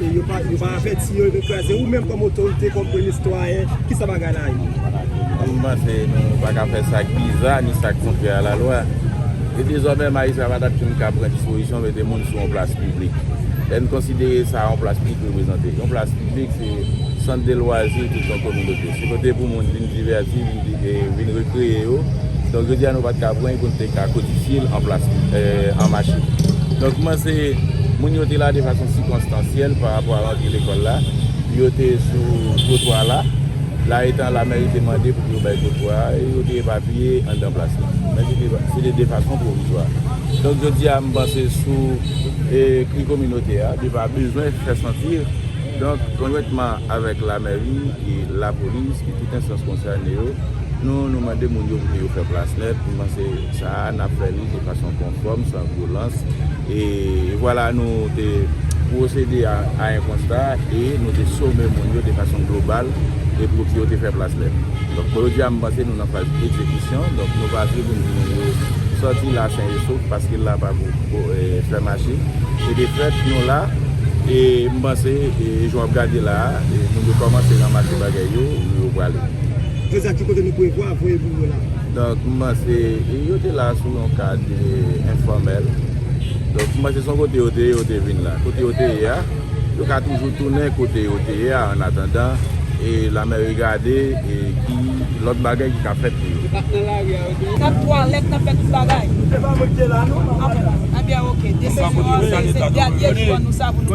E yo pa avèti yo, yo vin kraze. Ou menm kòm otorite, kòm premye sitwayen, ki sa bagay la ye? Mwen panse nou pa ka fè sa k biza ni sa k kontrè a lalwa. E dezòmè majistra pa t ap janm ka pran dispozisyon mete moun sou yon plas piblik. Lè n konsidere sa yon plas piblik reprezante, yon plas piblik se sant de lwazi tout yon kominote. Se kote pou moun vin divèti, vin rekreye yo. Donk jodi a nou pat ka pran pou nou te ka kodifye l an machin. Donk kouman se moun yo te la de fason sikonstansyèl pa rapò a rantri lekòl la. Yo te sou twotwa la. La etan lamèri te mande pou yo bay twotwa a e yo te epapiye anndan plas la. Men se te de fason pwovizwa. Donk jodi a m panse sou kri kominote a li pa bezwen fè santi. Donk konjwentman avèk la. Mèri, lapolis e tout enstans konsène yo, nou nou mande moun yo pou ke yo fè plas nèt, nou panse sa a n ap fè li de fason konfòm, san vyolans e vwala nou te pwosede a en konsta e nou te some moun yo de fason global e pou ke yo te fè plas nèt. Donk jodi a m panse nou nan faz egzekisyon, donk nou pa vle pou nou di moun yo sòti la sen e sof paske la pa pou. fè mache e de fèt nou la e m panse e jan w ap gade la a moun yo kòmanse ranmase bagay yo yo prale. Prezan ki kote nou prevwa voye moun yo la? Donk m panse e yo te la sou yon kad enfòmèl donk m panse se yon kote yo te ye yo te vin la kote yo te ye a. yo ka toujou tounen kote yo te ye a annatandan e lanmè regade ki lòt bagay ki ka fèt pou yo. Nan twalèt, nan fè tout bagay. Anbyen ok, desizyon an se se dènye jou an nou sa pou nou.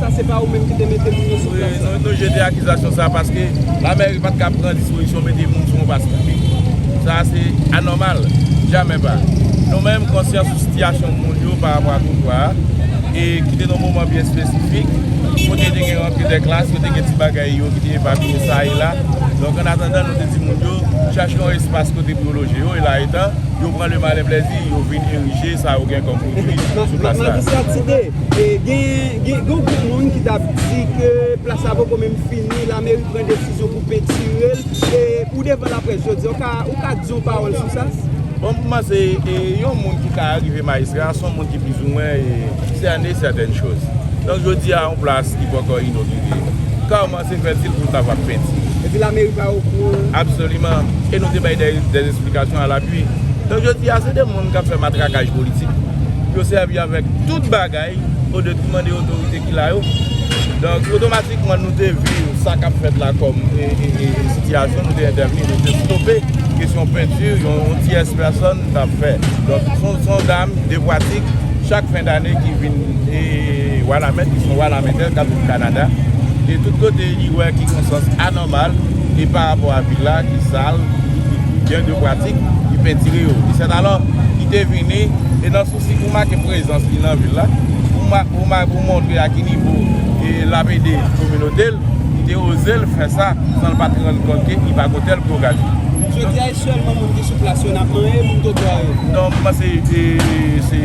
Sa se pa ou menm ki te mete moun yo sou plas la? Wi, nou jete akizasyon sa a paske Lamèri pa t ka pran dispozisyon mete moun sou yon baz piblik. Sa a se anòmal. Jamè pa. Nou menm konsyan sou sitiyasyon moun yo pa rapò a twotwa a e ki te nan yon moman byen espesifik kote te gen rantre de klas, kote gen ti bagay yo ki te epapiye sa e la. Donk, an atandan nou te di moun yo chache yon espas kote pou yo loje yo e la etan yo pran le malen plèzi yo vin erije sa yo gen kòm pwodui sou plas la. Gen yon granmoun ki t ap di ke plas la poko menm fini, lameri pran desizyon pou pentire l. Ou devan laprès jodi a, ou ka di yon pawòl sou sa? Bon, pou mwen se yon moun ki ka rive majistra, se yon moun ki pizouwen sène sètèn choz. Donk jodi a yon plas ki poko inogire. Se fè dil pou l ta va ap penti. Epi lameri pa okouran. Absoliman. E nou te bay dè esplikasyon a lapui. Donk jodi a se de moun k ap fè matrakaj politik. Yo sèvi avèk tout bagay o de mande otorite ki la yo. Donk otomatikman nou te vi sa k ap fèt la kòm sitiyasyon. Nou te entèvni, nou te stope kesyon penti yon tiyès pèsòn ta fè. Donk son dam de pwatik chak fen dane ki vin. E Wanament ki son Wanamentè kap viv Kanada e tout kote li wè ki gon sans anòmal e pa rapò a vil la ki sal ki gen de pratik li pentire yo. Li sèt alò ki te vini e nan sousi pou make prezans li nan vil la pou montre a ki nivo lap ede kominote l li te oze l fè sa san l pat rann kont ke li pa gon tèl pwografi. Sèlman moun ki sou plas yo n ap manyen, moun twotwa yo? Non, m panse se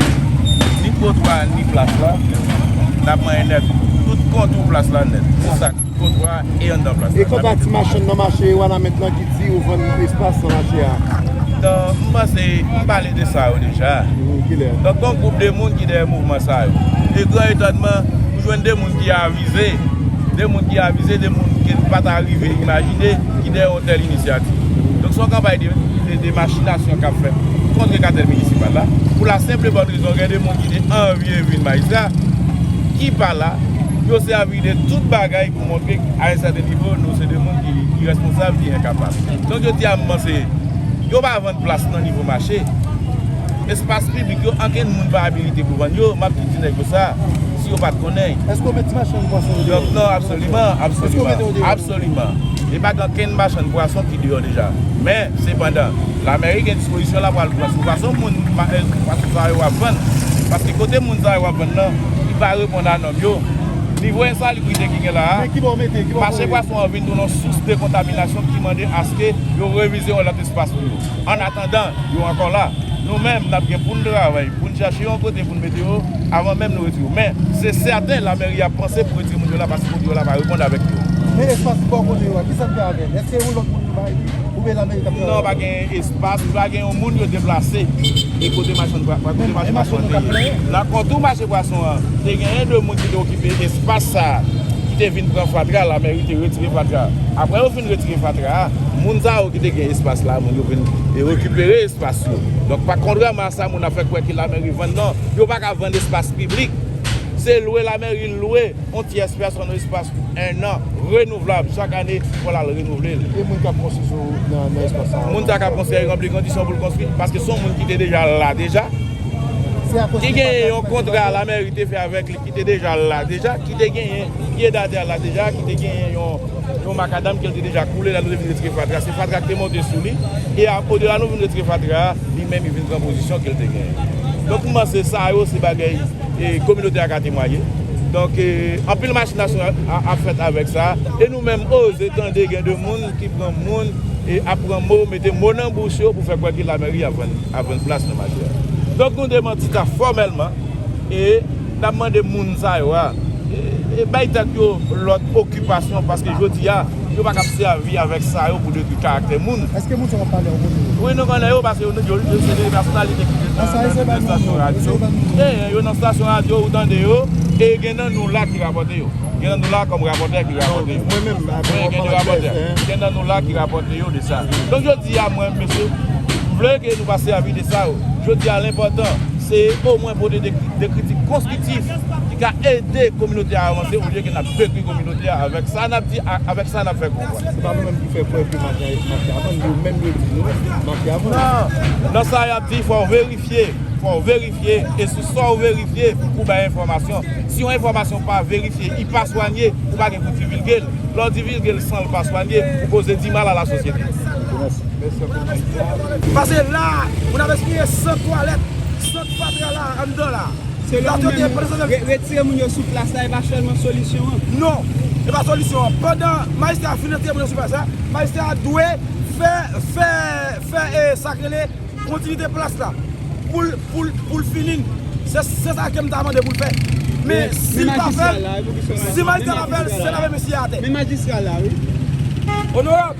ni twotwa ni plas la n ap manyen nèt. Tout kontou plas la nèt. Se sa, twotwa e anndan plas la. E kanta ti machann nan mache Wanament lan ki di yo vann espas nan mache a? Non, m panse m pale de sa yo deja. Kilè? Donk gon gwoup de moun ki dèyè mouvman sa yo. E gran etònman, ou jwenn de moun ki avize, de moun ki avize, de moun ke n pa ta rive imajine. ki dèyè yon tèl inisyativ. Donk se yon kanpay de machinasyon k ap fèt kontre katèl minisipal la pou la senp e bòn rezon gen de moun ki te anvye vin majistra ki pa la, yo sèvi de tout bagay pou montre a yon sèten nivo nou se de moun ki irèsponsab, ki enkapab. Donk yo di a moman se yo pa vann plas nan nivo mache, espas piblik yo ankenn moun pa abilite pou vann yo, m ap ki di nèg yo sa si yo pa t konnen. Èske yo mete machann pwason yo deyò? Non, absoliman, absoliman. Èske yo mete yo deyò? Absoliman. E pa gen okenn machann pwason ki deyò deja. Men, sepandan, Lameri gen dispozisyon la pral pran sou fason moun, pwason sa yo ap vann. Paske kote moun sa yo ap vann nan, li pa reponn a nòm yo. Nivo ensalubrite ki gen la a, mache pwason an vin tounen yon sous de kontaminasyon ki mande aske yo revize yon lòt espas pou yo. Ann atandan, yo ankò la. Nou menm, n ap gen pou n travay pou n chache yon kote pou n mete yo avan menm nou retire yo. Men, se sèten lamèri ap panse pou retire moun yo la paske moun yo la pa reponn avèk yo. Men espas ki bò kote yo a, ki sa n fè avè l? Èske se yon lòt moun nou bay li oubyen lamèri k ap travay avè l? Non, pa gen espas, pa gen yon moun yo deplase. E kote machann pwa, kote mache pwason an te ye? Nan kontou mache pwason an, te genyen de moun ki te okipe espas sa a, ki te vin pran fatra, lamèri te retire fatra a. Aprè yo fin. Moun retire fatra a, moun sa yo ki te gen espas la, moun yo vin rekipere espas yo. Donk pa kontrèman a sa moun ap fè kwè ke lamèri vann nan, yo pa ka vann espas piblik. Se lwe lamèri lwe yon tyès pèsòn espas pou ennan, renouvlab, chak ane fò l al renouvle l. E moun k ap konstwi sou nan espas sa yo? Moun sa k ap konstwi a li ranpli kondisyon pou l konstwi paske se yon moun ki te deja la deja, ki gen yon kontra lamèri te fè avèk li. ki te deja la deja, ki te genyen pye dada la deja, ki te genyen yon makadam ke li te deja koule la nou te vin retire fatra, se fatra ki te monte sou li, e a o de la nou vin retire fatra a, li menm li vin pran pozisyon ke li te genyen. Donk m panse sa yo se bagay e kominote a ka temwaye. Donk e anpil machinasyon ap fèt avèk sa, e nou menm oze tande gen de moun ki pran moun e ap pran mo, mete mo nan bouch yo pou fè kwè ke lamèri ap vann plas nan mache a. Donk nou demanti sa fòmèlman. E nap mande moun sa yo a bay tèt yo lòt okipasyon paske jodi a yo pa kab sèvi avèk sa yo pou detwi karaktè moun. Wi nou konnen yo paske yo se de pèsonalite ki te nan estasyon radyo. Genyen yo nan stasyon radyo ou tande yo e gen nan nou la ki rapòte yo. Gen nan nou la kòm rapòtè ki rapòte yo. Wi gen de rapòtè. Gen nan nou la ki rapòte yo de sa. Donk jodi a mwen menm mesye vle ke nou pa sèvi de sa yo. Jodi a l enpòtan. Se omwen pote de kritik konstriktif ki ka ede kominote a avanse olye ke nap detwi kominote a avèk sa nap di ak avèk sa nap fè konprann. Se pa nou menm ki fè kwè ke mafya a vann, yo menm yo di nou mafya vann. Nan, nan sa yap di fòw verifye, fòw verifye e sou sa ou verifye pou bay enfòmasyon. Si yon enfòmasyon pa verifye, i pa swanye, ou pa gen pou divilgel. Lè w divilgel san l pa swanye, ou koze di mal a la sosyete. Ok, mèsi. Pase la, ou nan vez kouye sant twalèt, sant fatra la anndan la. Se la ou te gen pwese de. Retire moun yo sou plas la e pa selman solisyon an. Non, e pa solisyon an. Pandan majistra a fin retire moun yo sou plas la, majistra a dwe fè, fè, fè e sa k rele kontinite plas la. Pou l, pou l, pou l fini l. Se sa ke m ta mande pou l fè. Men, si l pa fè l, si majistra pa fè l, se lave mesye a atè. Men majistra la wi. Onorab.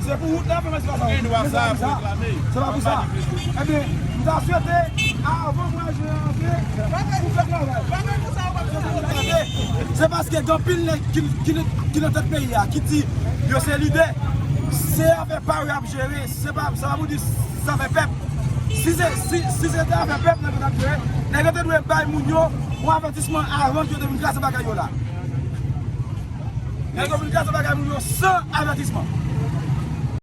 Se pou wout la pou mwen fè gen dwa sa pou reklame se pa pou sa ebyen m ta swete avan mwa jen an antre pou fè travay se paske gen anpil nèg ki nan tèt peyi a ki di yo se lidè se afè pa yo y ap jere se pa pou di se afè pèp si se te afè pèp nèg yo t ap jere nèg yo te dwe bay moun yo yon avètisman avan yo te vin kraze bagay yo la. Nan Dominikani se bagay moun yo san avètisman.